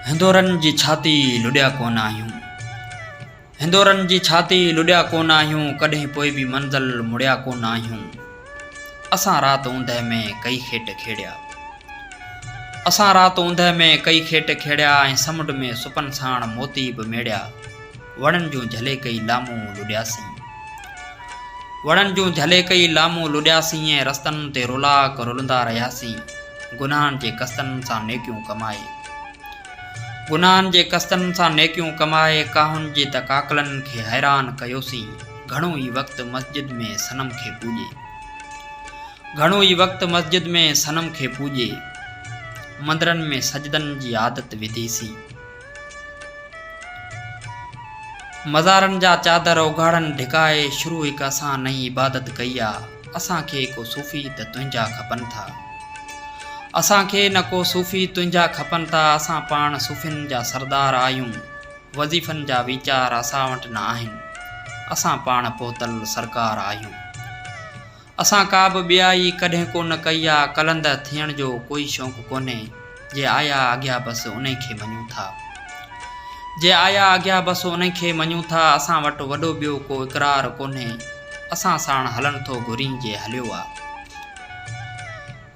هندورن جي ڇاتي لڏيا ڪونه آهيون هندورن جي ڇاتي لڏيا ڪونه آهيون ڪڏهن پوء به منزل مڙيا ڪونه آهيون اسان رات اوندهه ۾ ڪئي کيٽ کيڙيا اسان رات اوندهه ۾ ڪئي کيٽ کيڙيا ۽ سمنڊ ۾ سپن ساڻ موتي به ميڙيا وڻن جون جهلي ڪئي لامون لڏياسين. وڻن جون جهلي ڪئي لامون لڏياسين ۽ رستن تي رولاڪ رلندا رهياسين گناهن جي قسطن سان نيڪيون ڪمائي. گناهن جي قسطن سان نيڪيون ڪمائي ڪاهن جي ته ڪاڪلن کي حيران ڪيوسين گهڻو ئي وقت مسجد ۾ صنم کي پوڄي. گهڻو ئي وقت مسجد ۾ صنم کي پوڄي. مندرن ۾ سجدن جي عادت وڌيسين. مزارن جا چادر اگهاڙن ڍڪائي شروع هڪ اسان نئين عبادت ڪئي آ اسان کي ڪو صوفي ته تنهنجا کپن ٿا اسان کي نه ڪو صوفي تنهنجا کپن ٿا اسان پاڻ صوفين جا سردار آهيون وظيفن جا ويچار اسان وٽ نه آهن اسان پاڻ پهتل سرڪار آهيون اسان ڪا به ٻيائي ڪڏهن ڪو نه ڪئي آ، قلندر ٿيڻ جو ڪوئي شوق ڪونهي، جي آيا اڳيا بس انهي کي مڃون ٿا. جي آيا اڳيا بس انهي کي مڃون ٿا، اسان وٽ وڏو ٻيو ڪو اقرار ڪونهي، اسان ساڻ هلڻ ٿو گهرين جي هليو آ.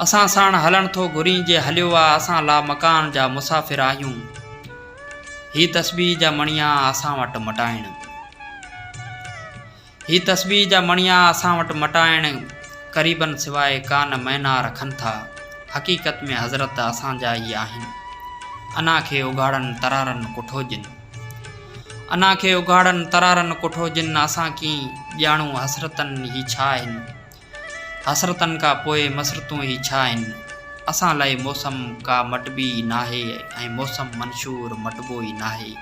اسان ساڻ هلڻ ٿو گهرين جي هليو آ، اسان لامڪان جا مسافر آهيون، هي تسبيح جا مڻيا آ اسان وٽ مٽائڻ. هي تسبيح جا مڻيا اسان وٽ مٽائڻ قريبن سواء ڪا نه معنيٰ رکن ٿا. حقيقت ۾ حضرت اسان جا ئي آهن. انا کي اگهاڙن ترارن ڪٺو جن. انا کي اگهاڙن ترارن ڪٺو جن اسان ڪين ڄاڻون حسرتن هي ڇا آهن. حسرتن کان پوء مسرتون ئي ڇا آهن؟ اسان لاء موسم ڪا مٽبي ئي ناهي ۽ موسم منشور مٽبو ئي ناهي.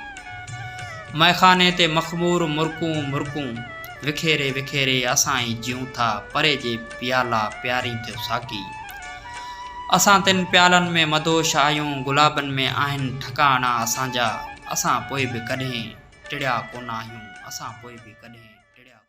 مئخاني تي مخمور مرڪون مرڪون وکيري وکيري اسان ئي جيون ٿا پري جي پيالا پيارين ٿيو ساقي. اسان تن پيالن ۾ مدهوش آهيون گلابن ۾ آهن ٺڪاڻا اسان جا. اسان پوء به ڪڏهن ٽڙيا ڪونه آهيون اسان پوء به ڪڏهن ٽڙيا ڪونه.